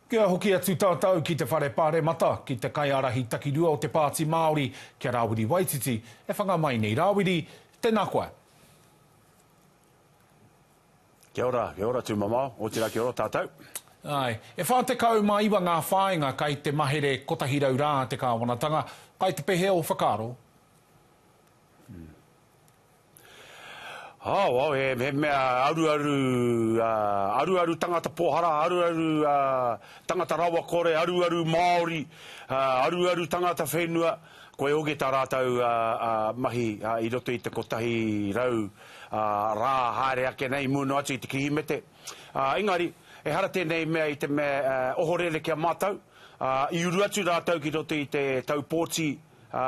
Kia hoki atu tātou ki te Whare Pāremata, ki te kaiārahi takirua o te Pāti Māori, ki a Rāwiri Waititi, e whanga mai nei. Rāwiri, tēnā koe. Kia ora, kia ora tū mamao, otirā kia ora tātou. Āe, e whā tekau mā iwa ngā whāinga kai te mahere kotahi rau rā te kāwanatanga, kai te pehe ō whakaaro? Wau, he mea aruaru, aruaru tangata pohara, aruaru tangata rawakore, aruaru Māori, aruaru tangata whenua, koia hoki tā rātou mahi i roto i te kotahi rau rā haere ake nei i mua noa atu i te Kirihimete. Engari, ehara tēnei mea i te mea ohorere ki a mātou, i uru atu rātou ki roto i te taupōti, ā,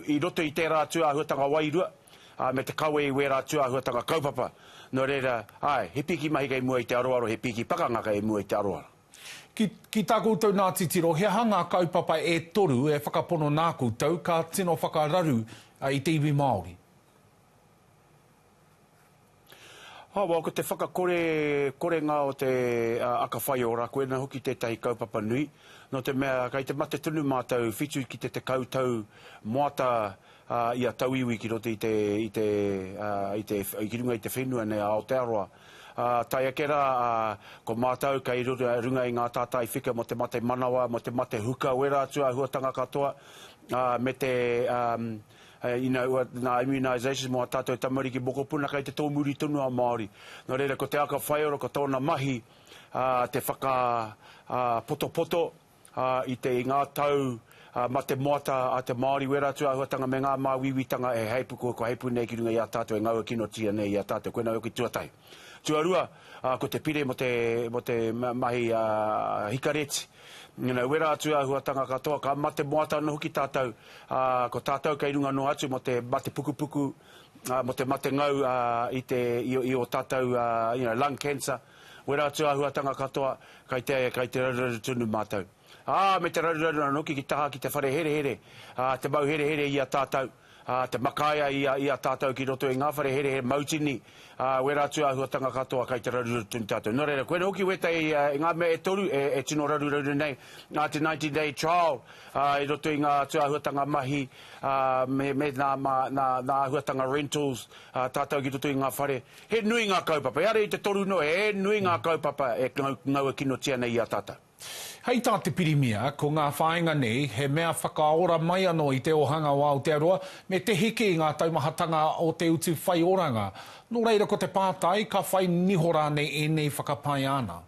i roto i tērā atu āhuatanga wairua, ā, me te kawe i wērā atu āhuatanga kaupapa, nō reira, āe, he pīki mahi kei mua i te aroaro, he pīki pakanga kei mua i te aroaro. Ki, ki tā koutou nā titiro, he aha ngā kaupapa e toru e whakapono nā koutou ka tino whakararu i te iwi Māori? Awa, ko te whakakore korenga o te aka whaiora, koina hoki tētahi kaupapa nui, nō te mea kei te mate tonu mātou whitu ki te tekau tau moata a ia tauiwi ki roto i te, i te, i te, ki runga i te whenua nei a Aotearoa. Ā, tae ake rā, ā, ko mātou kei runga i ngā tātai whika mō te mate manawa, mō te mate huka wera atu āhuatanga katoa, ā, me te, ā, You know, nā immunisation mō ā tātou tamariki mokopuna kei te tōmuri tonu a Māori. Nō reira, ko te aka whaiora, ko tōna mahi te whakapotopoto i te i ngā tau ma te moata a te Māori wera atu āhuatanga me ngā māuiuitanga e hei pū, ko hei pū nei ki runga i a tātou e ngaua kinotia nei i a tātou, koinā hoki tuatahi. Tuarua, ko te pire mō te mahi hikareti. Nana, wera atu āhuatanga katoa, ka mate moata anō hoki tātou, ā, ko tātou kei runga noa atu mō te mate pukupuku, ā, mō te mate ngau, ā, i te, i ō tātou, you know, lung cancer. Wera atu āhuatanga katoa, kei te, kei te raruraru tonu mātou. ā, me te raruraru anōki ki taha ki te whare herehere, ā, te mau herehere i a tātou, ā, te makaia i a, i a tātou ki roto i ngā whare herehere mautini, ā, wera atu āhuatanga katoa kai te raruraru tonu tātou. Nō reira, koinei hoki wētai i ngā mea e toru e, e tino raruraru nei, ā, te Nineteen Day Trial, ā, i roto i ngā atu āhuatanga mahi, ā, me, me nā, mā, nā, nā āhuatanga rentals, ā, tātou ki roto i ngā whare. He nui ngā kaupapa, ehara i te toru noa, he nui ngā kaupapa e ngau, ngaua kinotia nei i a tātou. Hei tā te Pirimia, ko ngā whāinga nei, he mea whakaora mai anō i te ōhanga o Aotearoa me te hiki i ngā taumahatanga o te utu whaioranga. Nō reira ko te pātai, ka whai niho rānei ēnei whakapae āna?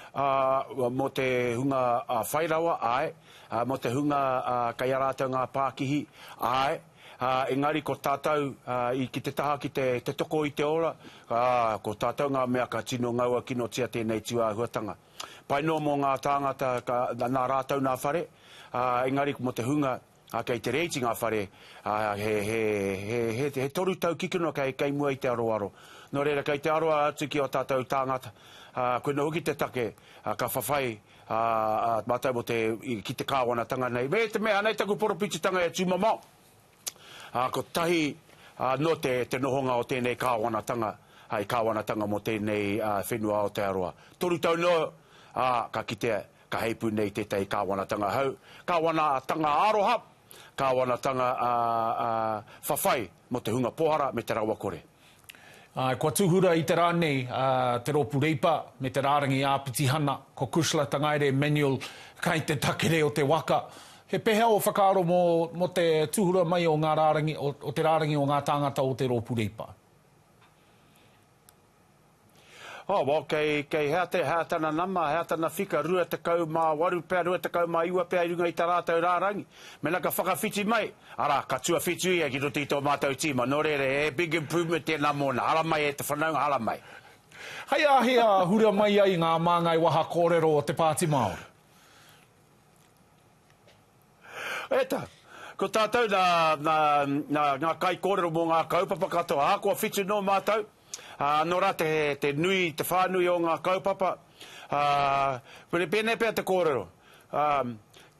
Ā, mō te hunga whai rawa, āe. Mō te hunga kei a rātou ngā pākihi, āe. Ā, engari ko tātou, ā, i ki te taha ki te, te toko i te ora, ā, ko tātou ngā mea ka tino ngaua kinotia tēnei tūāhuatanga. Pai noa mō ngā tāngata ka, nā rātou nā whare, ā, engari mō te hunga, ā, kei te reiti ngā whare, ā, he, he, he, he, he toru tau kikino kei, kei mua i te aroaro. Nō reira, kei te aroa atu ki ō tātou tāngata, ā, koinā hoki te take, ā, ka whawhai, Ā, ā mātou mō te, i, ki te Kāwanatanga nei, me te mea, anei taku poropititanga e tūmamao, ā, kotahi, ā, noa te, te nohonga o tēnei Kāwanatanga, ā, i Kāwanatanga mō tēnei, ā, whenua Aotearoa. Toru tau noa, ā, ka kitea, ka heipū nei tētahi Kāwanatanga hou, Kāwanatanga aroha, Kāwanatanga, ā, ā, whawhai mō te hunga pohara me te rawakore. Āe, kua tūhura i te rā nei te Rōpū Reipa me te Rārangi Āpitihana, ko Kushla Tangaere Manuel, kai te takere o te waka. He pēhea ō whakaaro mō te tūhura mai o ngā rārangi, o te rārangi o ngā tāngata o te Rōpū Reipa? Oh, well, kei, kei hea te, hea tana nama, hea tana whika, rua tekau mā waru pea, rua tekau mā iwa pea i runga i tā rātou rārangi. Mena ka whakawhiti mai, arā, ka tuawhitu ia ki roto i tō mātou tīma. Nō reira, he big improvement tēnā mōna. Haramai e te whanaunga, haramai. Hei a hea hura mai ai ngā māngai waha kōrero o te Pāti Māori? Eta, Ko tātou nā, nā, nā ngā kaikōrero mō ngā kaupapa katoa, ahakoa whitu nō mātou, ā, anō rā te, te nui, te whānui o ngā kaupapa, ā, pene, pēnei pea te kōrero, ā,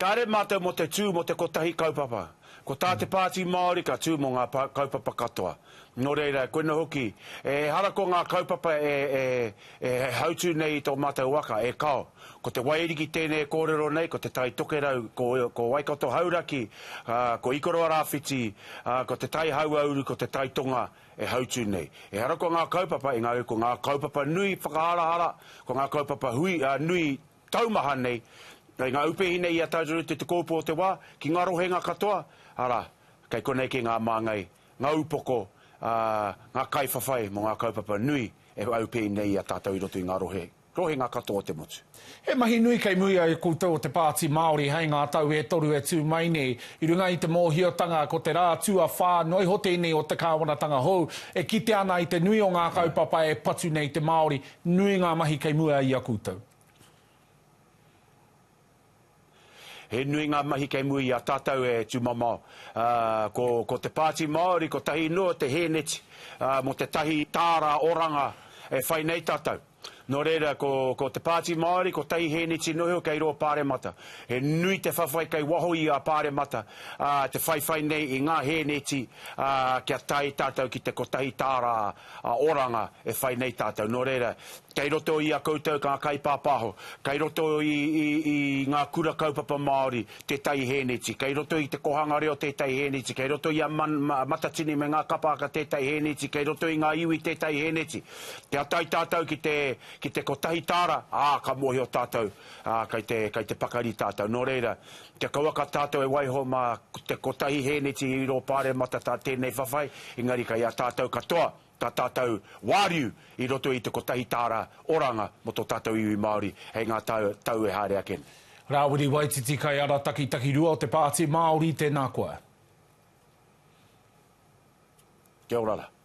kāre mātou mō te tū mō te kotahi kaupapa. Ko tā te Pāti Māori ka tū mō ngā kaupapa katoa. Nō reira, koina hoki, ehara ko ngā kaupapa e hautū nei i tō mātou waka, e kao. Ko Te Waiariki tēnei e kōrero nei, ko Te Tai Tokerau, ko Waikato Hauraki, ko Ikoroa Rāwhiti, ko Te Tai Hauauru, ko Te Tai Tonga e hautū nei. Ehara ko ngā kaupapa, engari ko ngā kaupapa nui whakaharahara, ko ngā kaupapa hui, nui taumaha nei, kei ngā upehine i a tātou te Te Kōpu o Te Wā, ki ngā rohenga katoa, arā, kei konei kē ngā māngai ngā upoko, ā, ngā kaiwhawhai mō ngā kaupapa nui e aupēi nei i a tātou i roto i ngā rohe, rohenga katoa o te motu. He mahi nui kei muri a koutou o te Pāti Māori hei ngā tau e toru e tū mai nei. I runga i te mōhiotanga ko te rā tuawhā noa iho tēnei o te kāwanatanga hou, e kite ana i te nui o ngā kaupapa e patu nei te Māori, nui ngā mahi kei mua i a koutou. He nui ngā mahi kei mua i a tātou e tūmamao. Ko te Pāti Māori kotahi noa te hēneti mō tētahi tāra oranga e whai nei tātou. Nō reira, ko te Pāti Māori kotahi hēneti noheo kei rō Pāremata. He nui te whawhai kei waho i a Pāremata te whaiwhai nei i ngā hēneti kia tae tātou ki te kotahi tāra oranga e whai nei tātou. Nō reira, Kei roto i a koutou ngā kaipāpāho, kei roto i, i, i ngā kura kaupapa Māori tētahi hēneti, kei roto i te kohanga reo tētahi hēneti, kei roto i a man, ma, Matatini me ngā kapa aka tētahi hēneti, kei roto i ngā iwi tētahi hēneti. Kia tae tātou ki te, ki te kotahi tāra, ā, ka mōhio tātou, ā, kei te, kei te pakari tātou. Nō reira, kia kauaka tātou e waiho mā te kotahi hēneti i rō Pāremata tā tēnei whawhai, engari kei a tātou katoa. tā tātou wāriu i roto i te kotahi tāra oranga mō tō tātou iwi Māori hei ngā tau e haere ake nei. Rāwiri Waititi Kaiara Takitakirua o te Pāti Māori, tēnā koa. Kia ora ra.